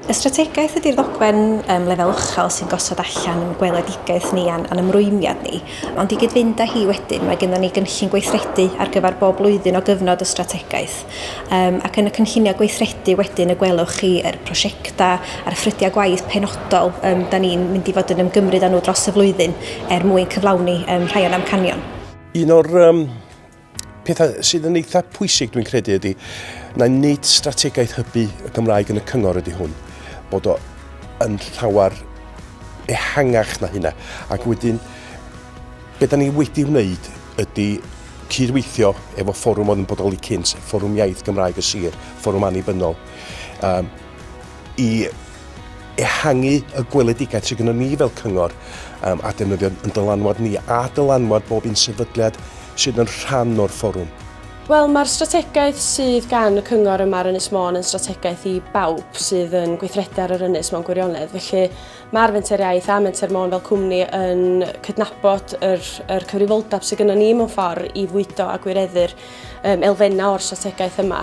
Y strategaeth ydy'r ddogfen um, lefel uchel sy'n gosod allan yn gweledigaeth ni a'n, an ymrwymiad ni, ond i gyd-fynd â hi wedyn mae gennym ni gynllun gweithredu ar gyfer bob blwyddyn o gyfnod y strategaeth um, ac yn y cynlluniau gweithredu wedyn y gwelwch chi yr prosiectau a'r ffrydiau gwaith penodol um, da ni'n mynd i fod yn ymgymryd â nhw dros y flwyddyn er mwyn cyflawni um, rhai o'n amcanion. Un o'r um, Pethau sydd yn eitha pwysig dwi'n credu ydy na nid strategaeth hybu y Gymraeg yn y cyngor ydy hwn, bod o yn llawer ehangach na hynna. Ac wedyn, beth da ni wedi wneud ydy cydweithio efo fforwm oedd yn bodoli cynt, fforwm iaith Gymraeg y sir, fforwm annibynnol. Um, i ehangu y gweledigaeth sydd gennym ni fel cyngor um, a defnyddio yn dylanwad ni a dylanwad bob un sefydliad sydd yn rhan o'r fforwm. Wel, mae'r strategaeth sydd gan y cyngor yma ar Ynys Môn yn strategaeth i bawb sydd yn gweithredu ar yr ynys mewn gwirionedd. Felly mae'r Fenter Iaith a Menter Môn fel cwmni yn cydnabod yr, yr cyfrifoldeb sydd gennym ni mewn ffordd i fwydo a gwireddu'r um, elfennau o'r strategaeth yma.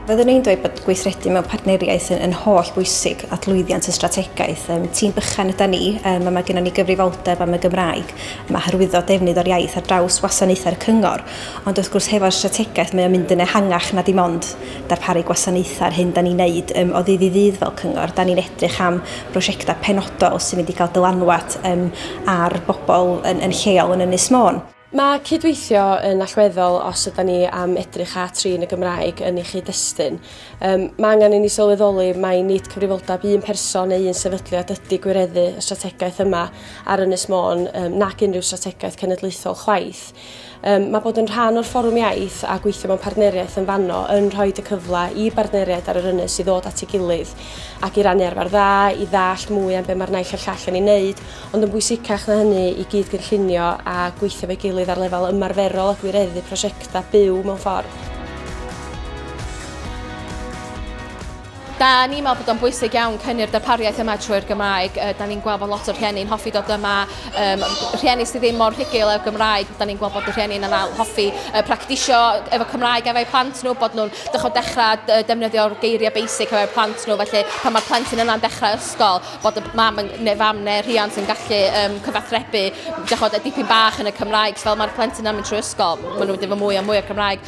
Fyddwn ni'n dweud bod gweithredu mewn partneriaeth yn, yn holl bwysig at lwyddiant y strategaeth. Um, tîm bychan yda ni, um, mae gennym ni gyfrifoldeb am y Gymraeg, mae hyrwyddo defnydd o'r iaith ar draws wasanaethau'r cyngor, ond wrth gwrs hefo'r strategaeth mae o'n mynd yn ehangach na dim ond darparu gwasanaethau ar hyn da ni'n neud um, o ddydd i ddydd fel cyngor. Da ni'n edrych am brosiectau penodol sy'n mynd i gael dylanwad um, ar bobl yn, yn lleol yn Ynys Môn. Mae cydweithio yn allweddol os yda ni am edrych at trin y Gymraeg yn ei chyd-destun. Um, mae angen i ni sylweddoli mai nid cyfrifoldeb un person neu un sefydliad ydy gwireddu y strategaeth yma ar Ynys Môn um, nac unrhyw strategaeth cenedlaethol chwaith. Yym, mae bod yn rhan o'r Fforwm Iaith a gweithio mewn partneriaeth yn fanno yn rhoi y cyfle i bartneriaid ar yr ynys i ddod at ei gilydd ac i rannu arfer dda, i ddallt mwy am be mae'r naill a'r llall yn ei wneud, ond yn bwysicach na hynny, i gyd-gynllunio a gweithio efo'i gilydd ar lefel ymarferol a gwireddu prosiectau byw mewn ffordd. Da ni'n meddwl bod o'n bwysig iawn cynnu'r darpariaeth yma trwy'r Gymraeg. Uh, da ni'n gweld bod lot o rhieni'n hoffi dod yma. Um, rhieni sydd ddim mor rhugil â'r Gymraeg, da ni'n gweld bod y rhieni'n anal hoffi uh, practisio efo Cymraeg efo'u plant nhw, bod nhw'n dechrau dechrau uh, defnyddio'r geiriau basic efo'u plant nhw. Felly pan mae'r plentyn yna'n dechrau ysgol, bod y mam yn, neu fam neu rhiant yn gallu um, cyfathrebu dechrau, y dipyn bach yn y Cymraeg. So, fel mae'r plentyn yna'n mynd trwy ysgol, maen nhw'n mynd efo mwy a mwy o Cymraeg.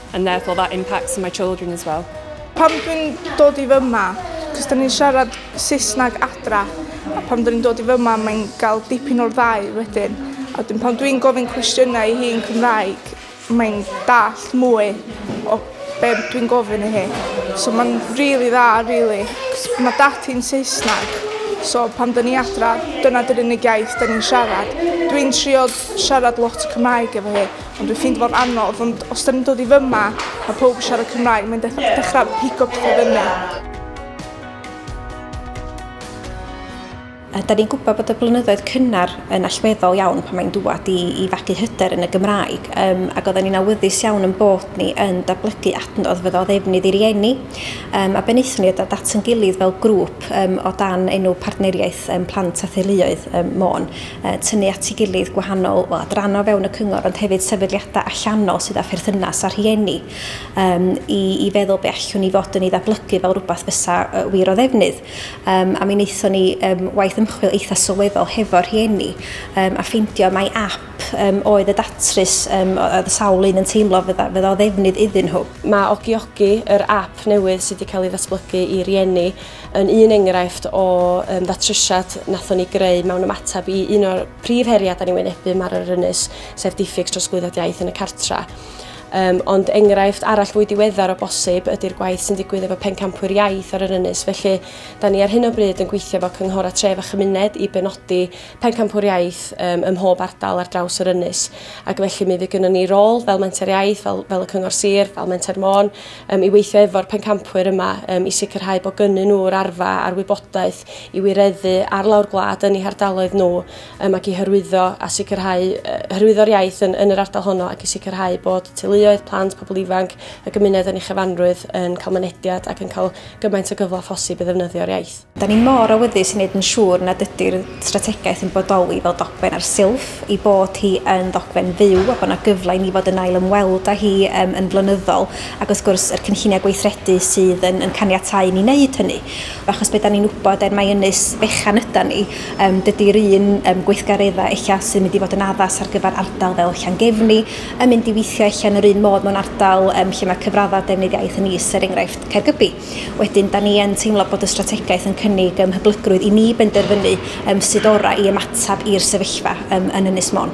And therefore that impacts on my children as well. Pam dwi'n dod i fyma? Cos da ni'n siarad Saesneg adra, a pam da ni'n dod i fyma mae'n gael dipyn o'r ddau wedyn. A wedyn pan dwi'n gofyn cwestiynau i hi yn Cymraeg, mae'n dallt mwy o be dwi'n gofyn i hi. So mae'n really dda, really. Cos mae dad hi'n Saesneg, so pan da ni adra, dyna dy'r unig iaith da ni'n siarad. Dwi'n trio siarad lot Cymraeg efo hi, Ond dwi'n ffeindio fo'n anodd ond os 'dan ni'n dod i fy' 'ma ma' powb yn siarad Cymraeg mae'n dechra dechra pigo pethe fyny. A 'dan ni'n gwybod bod y blynyddoedd cynnar yn allweddol iawn pan mae'n dŵad i i fagu hyder yn y Gymraeg yym ac oedden ni'n awyddus iawn yn bod ni yn datblygu adnodd fyddo o ddefnydd i rieni yym a be wnaethon ni oedd dod at ein gilydd fel grŵp yym o dan enw Partneriaeth yym Plant a Theuluoedd yym Môn tynnu at ei gilydd gwahanol wel, adrannau o fewn y cyngor ond hefyd sefydliadau allanol sydd â pherthynas â rhieni um, i, i feddwl be allwn ni fod yn ei ddablygu fel rhywbeth fysa uh, wir o ddefnydd. Um, a mi wnaethon ni um, waith ymchwil eitha sylweddol hefo rhieni um, a ffeindio mai app um, oedd y datrys um, oedd y sawl un yn teimlo fydda, fydda o ddefnydd iddyn nhw. Mae Ogiogi, yr app newydd sydd wedi cael ei ddatblygu i rieni, yn un enghraifft o yym ddatrysiad nathon ni greu mewn ymateb i un o'r prif heriau da ni'n wynebu mar yr ynys, sef diffyg trosglwyddiad iaith yn y cartra. Um, ond enghraifft arall fwy diweddar o bosib ydy'r gwaith sy'n digwydd efo pencampwyr iaith ar yr ynys, felly da ni ar hyn o bryd yn gweithio efo cynghora tref a chymuned i benodi pencampwyr iaith um, ym mhob ardal ar draws yr ynys. Ac felly mi fydd gynnon ni rôl fel menter iaith, fel, fel y cyngor sir, fel menter môn, um, i weithio efo'r pencampwyr yma um, i sicrhau bod gynnyn nhw'r arfa a'r wybodaeth i wireddu ar lawr gwlad yn eu hardaloedd nhw um, ac i hyrwyddo a sicrhau uh, hyrwyddo'r iaith yn, yn yr ardal honno ac i sicrhau bod teuluoedd, plant, pobl ifanc, y gymuned yn ei chyfanrwydd yn cael mynediad ac yn cael gymaint o gyfle phosib i ddefnyddio'r iaith. Da ni mor awyddus i wneud yn siŵr nad ydy'r strategaeth yn bodoli fel dogfen ar silff, ei bod hi yn ddogfen fyw a bod yna gyfle i ni fod yn ail ymweld â hi um, yn flynyddol, ac wrth gwrs yr cynlluniau gweithredu sydd yn, yn caniatau ni wneud hynny. Achos beth da ni'n wybod er mai ynys fechan yda ni, um, dydy'r un um, gweithgareddau eich sy'n mynd i fod yn addas ar gyfer ardal fel Llangefni, yn mynd i weithio eich yn yr un modd mewn ardal um, lle mae cyfraddau defnydd iaith yn is, er enghraifft Caergybi. Wedyn, da ni yn teimlo bod y strategaeth yn cynnig ym hyblygrwydd i ni benderfynu ym sut orau i ymateb i'r sefyllfa ym, yn Ynys Mon.